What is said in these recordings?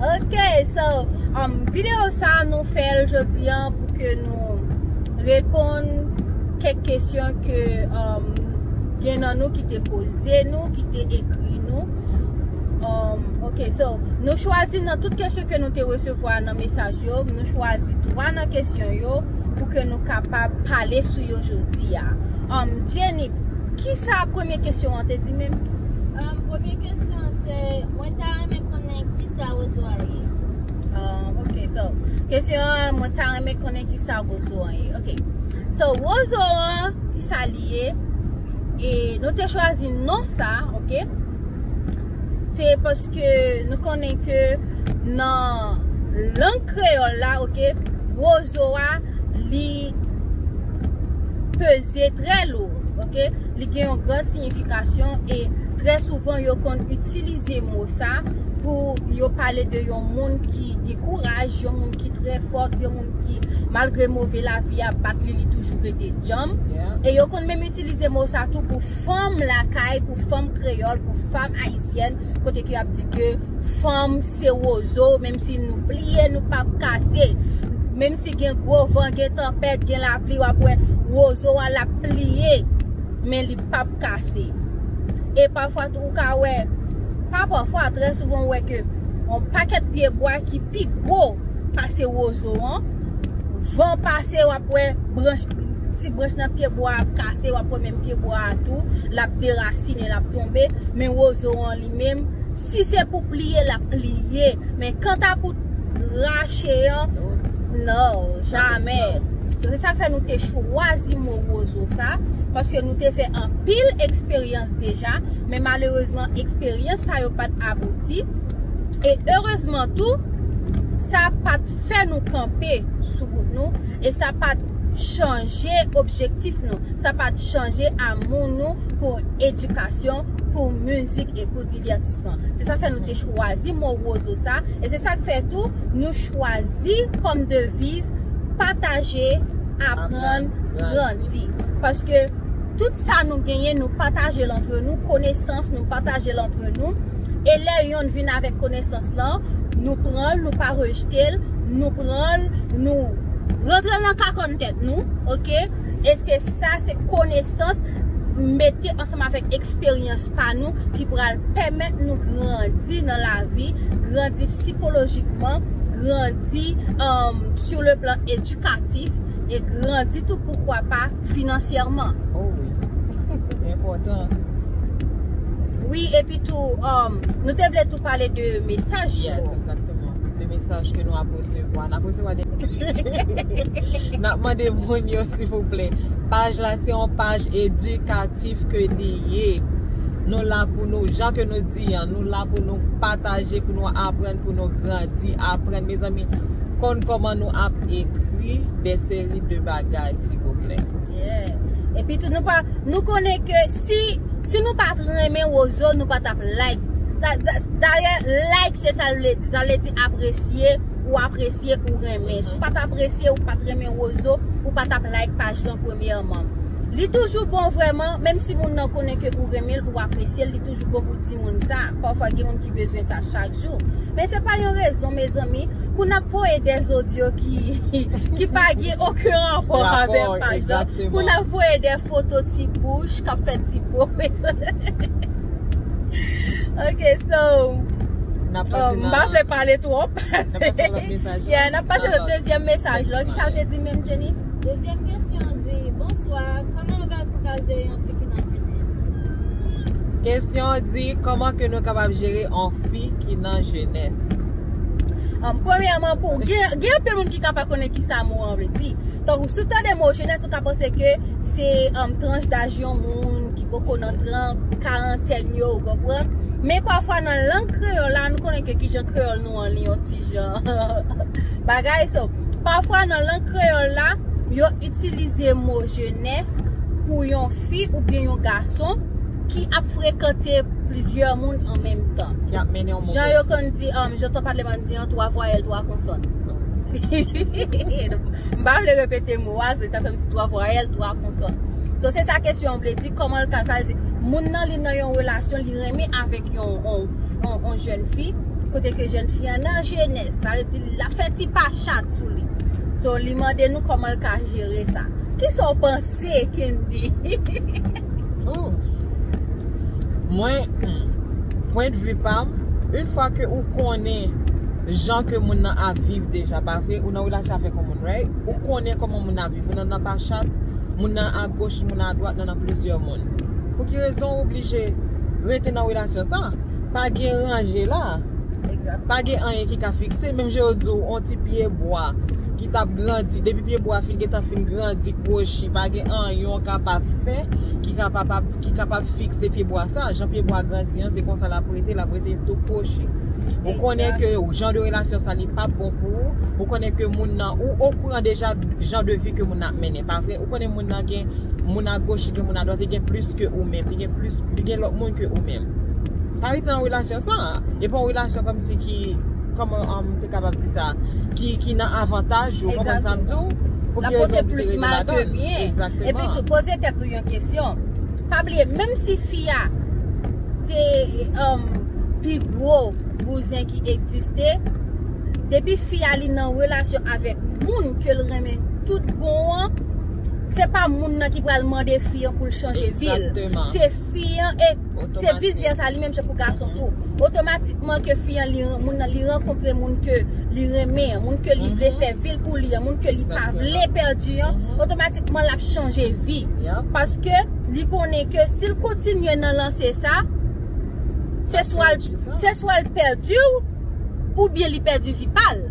Ok, so, um, video sa nou fèl jodi an pou ke nou reponn kèk kesyon ke um, gen nan nou ki te poze nou, ki te ekri nou. Um, ok, so, nou chwazi nan tout kesyon ke nou te resevwa nan mesaj yo, nou chwazi 3 nan kesyon yo pou ke nou kapab pale sou yo jodi a. Um, Jenny, ki sa premye kesyon an te di menm? Um, premye kesyon se, mwen ta renmen konnen kisa Rozo a ye. Ahh ok so kesyon an mwen ta renmen konnen kisa Rozo an ye ok so Rozo an kisa li ye e nou te chwazi non sa ok se paske nou konnen ke nan lang kreyòl la ok Rozo a li peze trè lou ok. Li gen yon gran siyifikasyon e trè souvan yo konn itilize mo sa pou yo pale de yon moun ki gen kouraj, yon moun ki trè fòt, yon moun ki malgre move lavi a bat li, li toujou rete djanm. E yo konn menm itilize mo sa tou pou fanm lakay, pou fanm kreyòl, pou fanm ayisyèn. kote ke ap di ke fanm se wozo, menm si nou pliye nou pa p kase, menm si gen gwo van, gen tanpèt, gen lapli w ap wè wozo a l ap pliye men li pa p kase. E pafwa tou ou ka wè, pa pafwa, trè souvan ou wè ke yon pakèt pye bwa ki pi gwo pase wozo an, van pase w ap wè branch, ti branch nan pye bwa ap kase wap wè menm pye bwa a tou lap derasine lap tonbe men wozo an li menm si se pou pliye lap pliye men kanta pou rache an nan jamè se sa fè nou te chwazi mo wozo sa paske nou te fè anpil eksperyans deja men malerezman eksperyans sa yo pat abouti e erezman tou sa pat fè nou kanpe sou gout nou. E sa pa t chanje objektif nou, sa pa t chanje amou nou pou edikasyon, pou mizik e pou divètisman. Se sa k fè nou te chwazi mo Wozo sa, e se sa k fè tou nou chwazi kòm deviz Pataje, Aprann, Grandi. Paske tout sa nou genyen nou pataje l antre nou, konesans nou pataje l antre nou. E lè yonn vin avèk konesans lan, nou pran l, nou pa rejte l, nou pran l, nou rantre l nan kakòn tèt nou, ok, e se sa, se konesans mete ansanm avèk eksperyans pa nou ki pral pèmèt nou grandi nan lavi, grandi psikolojikman, grandi sur le plan edukatif, e grandi tou poukwa pa finansyèman. Enpòtan. Wi epi tou nou te vle tou pale de mesaj yo. Yes, exactement. De mesaj ke nou ap resevwa. N ap resevwa de N ap mande moun yo silvouplè. Paj la se yon paj edikatif ke li ye. Nou la pou nou, jan ke nou di an, nou la pou nou pataje, pou nou aprann, pou nou grandi, aprann. Mezanmi, konn kòman nou ap ekri de seri de bagay silvouplè. Yeah. Epi tou nou pa, nou konnen ke si, si nou pat renmen Wozo nou pa tap like. Dayè like se sa l vle di, sa vle di apresye, ou apresye, ou renmen. Si w pat apresye, ou pat renmen Wozo, ou pa tap like paj lan premyèman. Li toujou bon vrèman, menm si moun nan konnen ke ou renmen l, ou apresye l, li toujou. Mèsi bokou timoun sa. Pafwa gen moun ki bezwen sa chak jou. Men se pa yon rezon mezanmi pou nap voye de zodyo ki pa gen oken ranpò avèm pa egzanp. Pou nap voye de foto ti bouch kap fè ti bo. Ok so m pa vle pale twòp. Yeah nap pase nan dezyèm mesaj la. Kisa l te di menm Jenny? Dezyèm kesyon an di, Bonswa. Kesyon an di, kòman ke nou kapab jere yon fi ki nan jenès? Premyèman, gen anpil moun ki ka pa konnen ki sa mo an vle di. Tankou, si w tande mo jenès, ou ka panse ke se tranch daj yon moun ki poko nan trant, karantèn yo, ou konprann. Men pafwa nan lang kreyòl la, nou konnen ke ki jan kreyòl nou an li yon ti jan bagay. So, pafwa nan lang kreyòl la, yo itilize mo jenès. fitness pou yon fi oubyen yon gason ki ap frekante plizyè moun an menm tan. Ki ap mennen yon move vi. Jan yo konn di, um, jan tan pale man di an, 3 vwayèl, 3 konsòn. M pa vle repete mo a, so sa fè m di 3 vwayèl, 3 konsòn. So se sa kesyon an vle di, kòman l ka, sa vle di, moun nan li nan yon relasyon, li renmen avèk yon, yon, yon jèn fi, kote ke jèn fi an nan jenès, sa vle di l ap fè ti pa chat sou li. So li mande nou kòman l ka jere sa. Kisa w panse Kendy? Ooh Mwen Pwen de vue pam Une fwa ke ou konnen Jan ke moun nan ap viv deja pa vre ou nan relasyon avèk yon moun right ou konnen kòman moun nan ap viv ou nan nan pa chat moun nan a goch moun nan a dwat nan nan plizyè moun pou ki rezon ou oblije rete nan relasyon sa pa gen ranje la pa gen anyen ki ka fikse menm jan yo di w yon ti pye bwa ki t ap grandi. Depi pye bwa fin gentan fin grandi, kwochi, pa gen anyen w kapab fè ki kapab ki kapab fikse pye bwa sa. Jan pye bwa grandi an, se konsa l ap rete, l ap rete tou kwochi. Ou konnen ke jan de relasyon sa li pa p bon pou ou. Ou konnen ke moun nan, ou okouran deja jan de vi ke moun nan ap mennen, pa vre? Ou konnen moun nan gen moun agoch, li gen moun adwat, li gen plis ke ou menm, li gen plis, li gen lòt moun ke ou menm. Pa rete nan relasyon sa a. E pa yon relasyon kòmsi ki. Kòman m te kapab di sa? Ki nan avantaj ou, ou konprann sa m di w? Pou ki rezon ou te rete ladan l? Egzakteman. Epi tou, poze tèt ou yon kesyon. Pa bliye, menm si fi a te pi gwo bouzen ki egziste, depi fi a li nan relasyon avèk moun ke l renmen tout bon an, se pa moun nan ki pral mande fi an pou l chanje vi l. Egzakteman. Se fi an e. Se vice versa li menm se pou gason tou. Otomatikman ke fi an li moun nan li rankontre moun ke li renmen an, moun ke li vle fè vi l pou li an, moun ke li pa vle pèdi an, otomatikman l ap chanje vi. Paske li konnen ke si l kontinye nan lanse sa, se swa l pèdi ou, oubyen li pèdi vi pa l.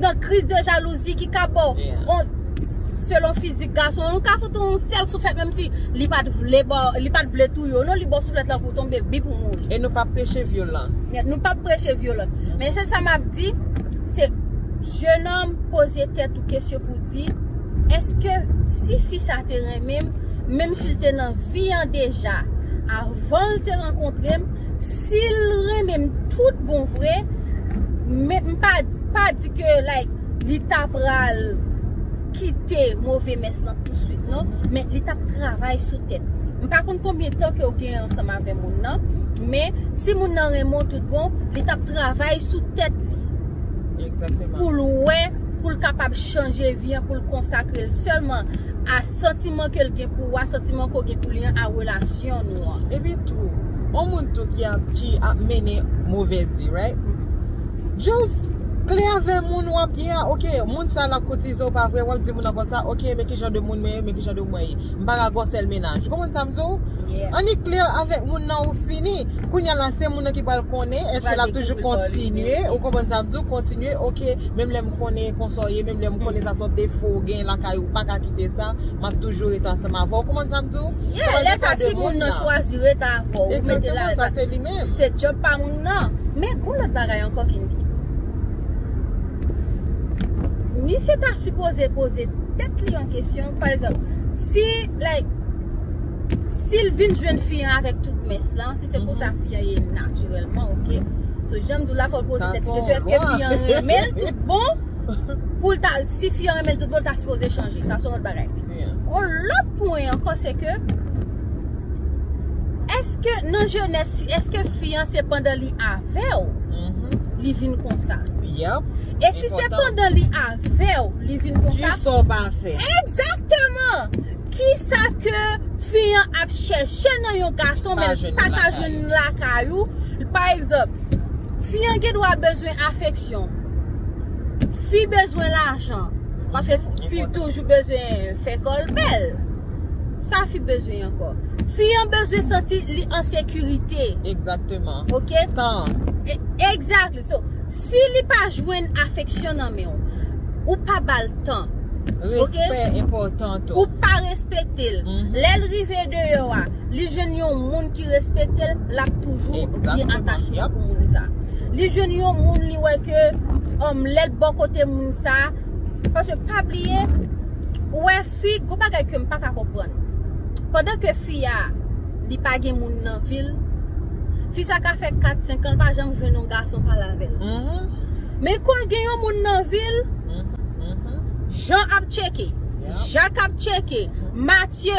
nan kriz de jalouzi ki ka baw yon selon fizik gason an ou ka fout yon sèl souflèt menm si li pat vle baw li pat vle touye w non li baw souflèt lan pou w tonbe bip ou mouri. E nou pap preche vyolans. Nèt nou pap preche vyolans men se sa map di se jenòm poze tèt ou kesyon pou w di eske si fi sa te renmen m menm si l te nan vi an deja avan l te rankontre m Sil renmen m tout bon vre men m pa di ke like li ta pral kite move mès lan tout swit non men li tap travay sou tèt li. M pa konn konbyen tan ke ou gen ansanm avè moun nan men si moun nan renmen w tout bon li tap travay sou tèt li pou l wè pou l kapab chanje vi an pou l konsakre l sèlman a Santiman ke l gen pou ou a, santiman ke w gen pou li an a relasyon nou an. Epi tou, yon moun tou ki ap, ki ap mennen movèz vi right, just klè avè moun w ap ye a, ok, moun sa l ap koutize w pa vre, w ap di moun nan konsa, ok, men ki jan de moun mwen ye, men ki jan de moun mwen ye. M pa ka gen yon sèl mennaj. Ou konprann sa m di w? Yeah. Annik klè avèk moun nan ou fini. Kounya la se moun nan ki pral konnen, èske l ap toujou kontinye, ou konprann sa m di w, kontinye, ok, menm lè m konnen konsa w ye, Lè m konnen sa son defo ou gen lakay ou paka kite sa, m ap toujou rete ansanm avè w. Ou konprann sa m di w? Yeah, lè sa si moun nan chwazi rete avè w, ou mete l alèz ak li. Exactement, sa se li menm. Se job pa moun nan. Men gon lòt bagay ankò ki m di. Misye ta sipoze poze tèt li yon kesyon, pa egzanp, si like, si l vin jwenn fi an avèk tout mès lan, si se konsa fi an ye natirèlman, ok? So jan m di w la fò l poze tèt li kesyon, èske fi an renmen l tout bon? Poul ta, si fi an renmen l tout bon l ta sipoze chanje, sa son lòt bagay. Yon lòt pwen ankò se ke, eske nan jenès fi, eske fi an se pandan li avèw, li vin konsa? Yep. E si se pandan li avèw, li vin konsa? Kisa w pa fè? Egzakteman! Kisa ke fi an ap chèche nan yon gason men li pa ka jwenn lakay ou? Pa egzanp, fi an gen dwa bezwen afeksyon. Fi bezwen lajan. Paske fi toujou bezwen fè kò l bèl. Sa fi bezwen ankò. Fi an bezwen santi li an sekirite. Egzakteman. Ok? Tan. Egzakteman. So, si li pa jwenn afeksyon nan men w, ou pa ba l tan. Ok? Respè enpòtan tou. Ou pa respekte l. Lè l rive deyò a. li jwenn yon moun ki respekte l, l ap toujou gen atachman pou moun sa a. Li jwenn yon moun li wè ke lè l bò kote moun sa a, paske pa bliye, ou wè fi, gen yon bagay ke m pa ka konprann. Pandan ke fi a, li pa gen moun nan vi l, fi sa ka fè kat, senk an, l pa janm jwenn yon gason pale avè l. Men kon gen yon moun nan vi l, Jan ap tcheke, Jak ap tcheke, Matye.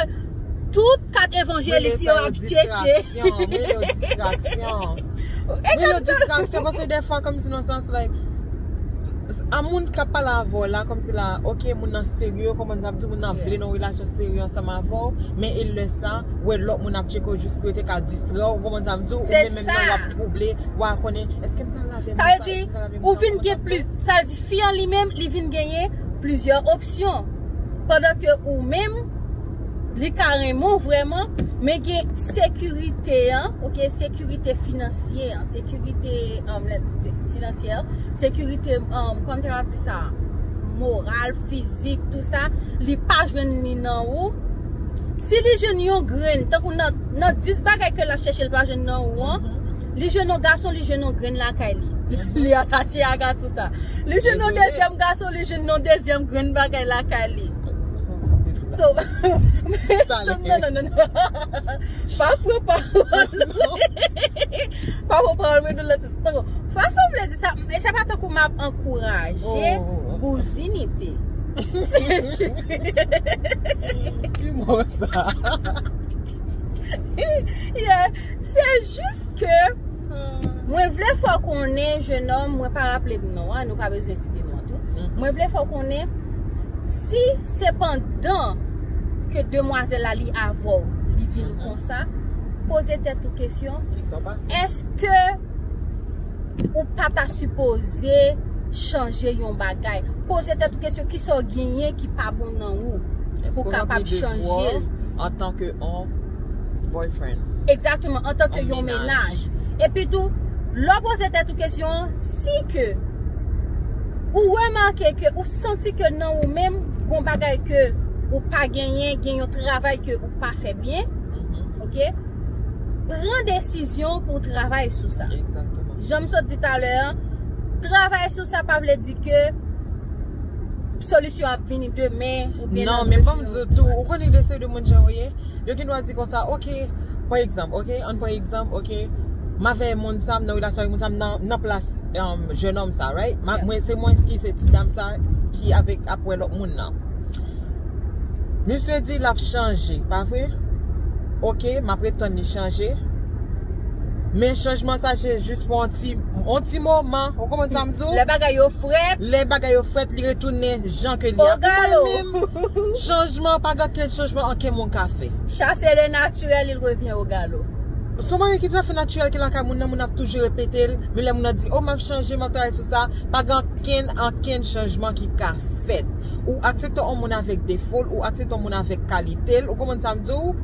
Tout 4 evanjelis yo ap tcheke. Mwen rele sa yo distraksyon, mwen rele yo distraksyon. Mwen rele yo distraksyon paske defwa kòmsi nan sans like, a moun k ap pale avè w la kòmsi la ok moun nan serye, konprann sa m di, moun nan vle nan yon relasyon serye ansanm avè w, men e lè sa, wè lòt moun ap tcheke w jis pou yo te ka distrè w, ou konprann sa m di w, ou menm menm nan w ap twouble, w a konnen, èske m ta al avè moun sa, èske m ta al avè moun sa, ou konprann sa m di w. Sa vle di, fi an li menm, li vin genyen plizyè opsyon, pandan ke ou menm. Li ka renmen w vrèman, men gen sekirite an, ok, sekirite finansye an, sekirite finansye an, sekirite, kòman te kapab di sa, moral, fizik, tout sa, li pa jwenn li nan ou. Si li jwenn yon grenn, tankou nan 10 bagay ke l ap chèche l pa jwenn nan ou an, Li jwenn yon gason, li jwenn yon grenn lakay li. Li atache a gason sa. Li jwenn yon dezyèm gason, li jwenn yon dezyèm grenn bagay lakay li. So, non, non, non, non. Pa pran pawòl mwen. Pa pran pawòl mwen nou lòt. Tankou, fason mwen di sa, e se pa tankou m ap ankouraje bouzinite. Se jis. Ki mo sa? Yeah, se jis. Jis ke mwen vle fè w konnen jenòm, mwen pa raple m non an, nou pa bezwen site non an tou. Mwen vle fè w konnen si se pandan ke demwazèl la li avè w li vin konsa, poze tèt ou kesyon, èske ou pa ta sipoze chanje yon bagay? Poze tèt ou kesyon kisa w genyen ki pa bon nan ou pou w kapab chanje l? Boyfriend. Exactement, an tan ke yon menaj. Epi tou, lè w poze tèt ou kesyon an, si ke ou remake ke ou santi ke nan ou menm gon bagay ke ou pa genyen, gen yon travay ke ou pa fè byen, ok, pran desizyon pou w travay sou sa. Jan m sot di talè an, travay sou sa pa vle di ke solisyon ap vini demen. Non, men fò m di w tou, ou konnen de se de moun jan yo ye. Yo gen dwa di konsa, ok, pa egzanp, ok, ann pran egzanp, ok, m avè moun sa, m nan relasyon avè moun sa, m nan plas jenòm sa, right? Mwen se mwen ki se ti dam sa ki avèk ap wè lòt moun nan. Misye di l ap chanje, pa vre? Ok, m ap ret tann li chanje. Men chanjman sa se jis pou yon ti, yon ti moman, ou konprann sa m di w? Lè bagay yo frèt. Lè bagay yo frèt, li retounen jan ke li a. O galop! Chanj. Franchman pa gen okenn chanjman anken moun ka fè. Chase le naturel il revient au galop. Son bagay ki touafe natirèl ki lakay moun nan moun ap toujou repetel men lè moun nan di oh map chanje map travay sou sa pa gen ankenn ankenn chanjman ki ka fèt ou aksepte on moun avèk defol ou aksepte on moun avèk kalitel ou konprann sam diw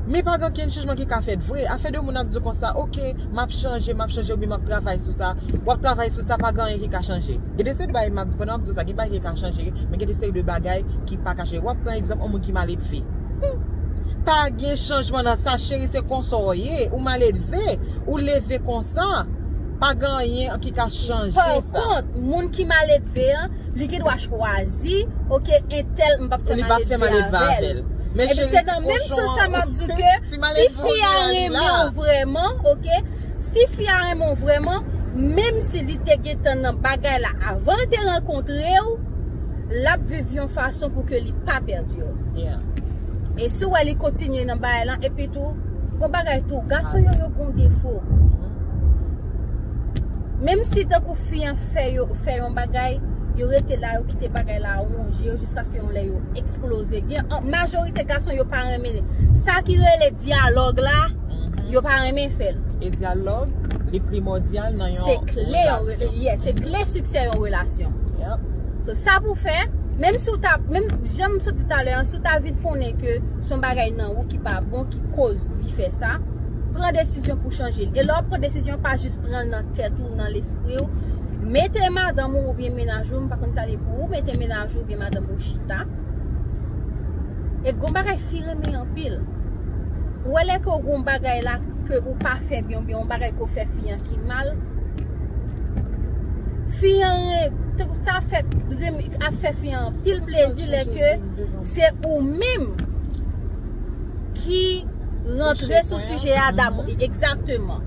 men pa gen ankenn chanjman ki ka fèt vre afè de moun ap diw konsa ok Map chanje, map chanje oubyen map travay sou sa. Wap travay sou sa, pa gen anyen ki ka chanje. Gen de seri de bagay, pandan map di w sa, gen bagay ki ka chanje, men gen de seri de bagay ki pa ka chanje. Wap pran egzanp yon moun ki maledve. Pa gen chanjman nan sa cheri, se konsa w ye. Ou maledve, ou leve konsa. Pa gen anyen ki ka chanje sa. Par kont, moun ki maledve an, li gen dwa chwazi, ok, entèl m pap fè maledve avèl. Li pap fè maledve avèl. Ebyen se nan menm sans sa map di w ke. Si fi a renmen w vreman ok Si fi a renmen w vreman Menm si li te gentan nan bagay la avan l te rankontre w Lap viv yon fason pou ke li pa pèdi w E si w wè li kontinye nan bagay lan Epi tou Gon bagay tou Gason yo yo gon defo Menm si tankou fi an fè yo Fè yon bagay Yo rete la yo kite bagay la ronje yo Jiskaske yon lè yo eksploze Gen majorite gason yo pa renmen men sa ki rele dyalòg la yo pa renmen fèl. E dyalòg li primòdyal nan yon relasyon. Yes, se kle siksè yon relasyon. Yep. So sa pou fè, menm si w ta, menm jan m sot di talè an, si w ta vin konnen ke son bagay nan ou ki pa bon, ki koz li fè sa, pran desizyon pou chanje l. E lè w pran desizyon, pa jis pran l nan tèt ou, nan lespri ou. Mete madanm ou oubyen menaj ou, m pa konn sa li pou ou, mete menaj ou oubyen madanm ou chita. E gon bagay fi renmen anpil. Ou wè lè ke w gon bagay la ke ou pa fè byen oubyen yon bagay ke w fè fi an ki mal, fi an ren, sa ap fè, ap fè fi an anpil plezi lè ke se ou menm ki rantre sou sijè a dabò. Egzakteman.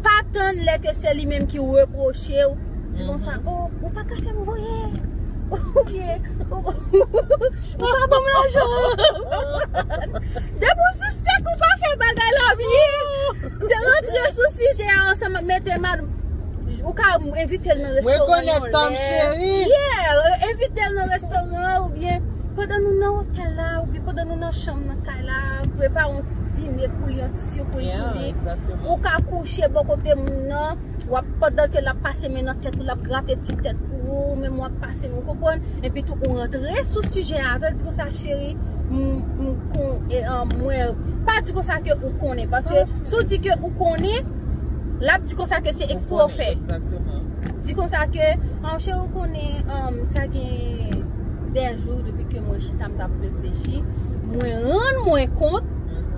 Pa tann lè ke se li menm ki repwoche w, di konsa, oh, ou pa ka fè m voye, oubyen, ou. Ou pa banm lajan an. Depi w sispèk ou pa fè bagay la byen, se rantre sou sijè a ansanm ak mete mad ou ka envite l nan restoran yon lè. Mwen konèt tanm cheri. Yeah, envite l nan restoran an oubyen pandan nou nan otèl la oubyen pandan nou nan chanm nan kay la, prepare yon ti dine pou li, yon ti sipriz pou li. Ou ka kouche bò kote moun nan, wap pandan ke lap pase men nan tèt ou, lap grate ti tèt pou ou, menm wap. Sim ou konprann epi tou ou rantre sou sijè a avèl di konsa cheri mwen pa di konsa ke ou konnen paske si ou di ke ou konnen lap di konsa ke se ekspre ou fè di konsa ke cheri ou konnen sa gen dè jou depi ke mwen chita m tap reflechi mwen rann mwen kont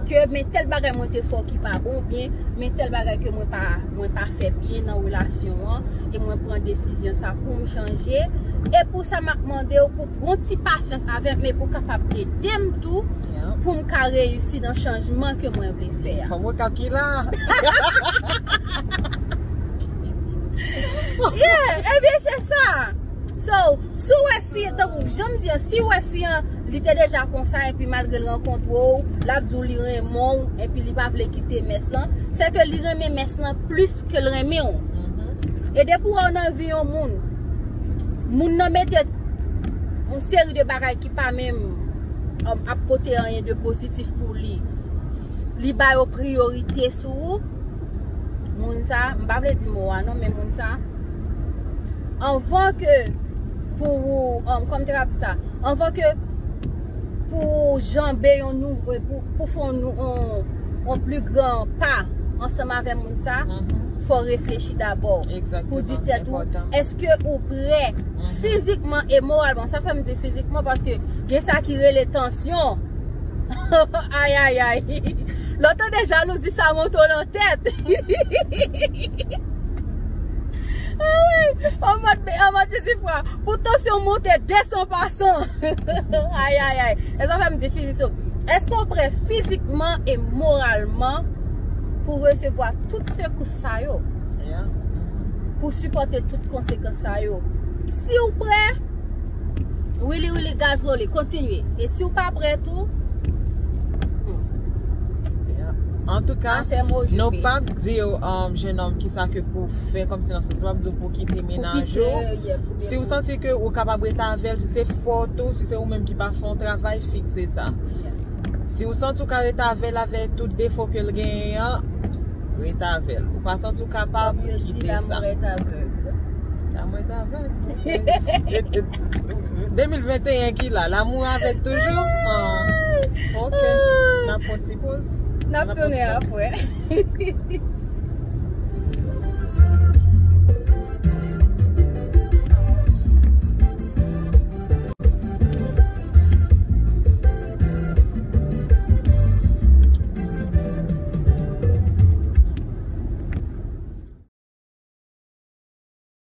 ke men tèl bagay mwen te fè ou ki pa bon ou byen men tèl bagay ke mwen pa mwen pa fè byen nan relasyon an e mwen pran desizyon sa pou m chanje e pou sa map mande w pou pran ti pasyans avè m e pou kapab ede m tou pou m ka reyisi nan chanjman ke mwen vle fè a. Fòk mwen ka ki la. Yeah! Ebyen se sa! So, si w wè fi an, tankou jan m di an, si w wè fi an, li te deja konsa epi malgre l rankontre w, l ap di w li renmen w epi li pa vle kite mès lan, se ke li renmen mès lan plis ke l renmen w. E depi w wè w nan vi yon moun, moun nan mete yon seri de bagay ki pa menm ap pote anyen de pozitif pou li, li ba yo priyorite sou ou, moun sa, m pa vle di mo a non, men moun sa, anvan ke pou ou, kòman m te ka di sa, anvan ke pou ou janbe yon nou, pou fè yon pli gran pa ansanm avè moun sa, fò ou reflechi dabò. Egzakteman. Pou di tèt ou, eske ou prè fizikman e moralman, sa fè m di fizikman paske gen sa ki rele tansyon. Ayayay Lò tande jalouzi sa monte w nan tèt Anmwey Jezi fwa Pou tansyon monte desan pasan Ayayay E sa fè m di fizik so Èske w prè fizikman e moralman Pou w resevwa tout sekous sa yo Pou w sipòte tout konsekans sa yo Si w prè Wili wili gaz woli kontinye E si w pa prè tou An tou ka Nou pap di w jenom ki sa ke pou fè Kom se nan se pap di w pou kite menaj ou Si w santi ke ou kapab rete avèl Si se fòt ou Si se ou menm ki pa fon travay fikse sa Si w santi w ka rete avèl avè tout defo ke l genyen an Rete avèl Ou pa santi w kapab kite sa Dam rete avèl 2021 ki la, l'amour avek toujou? Ok, nap pran ti poz. Nap tounen apre.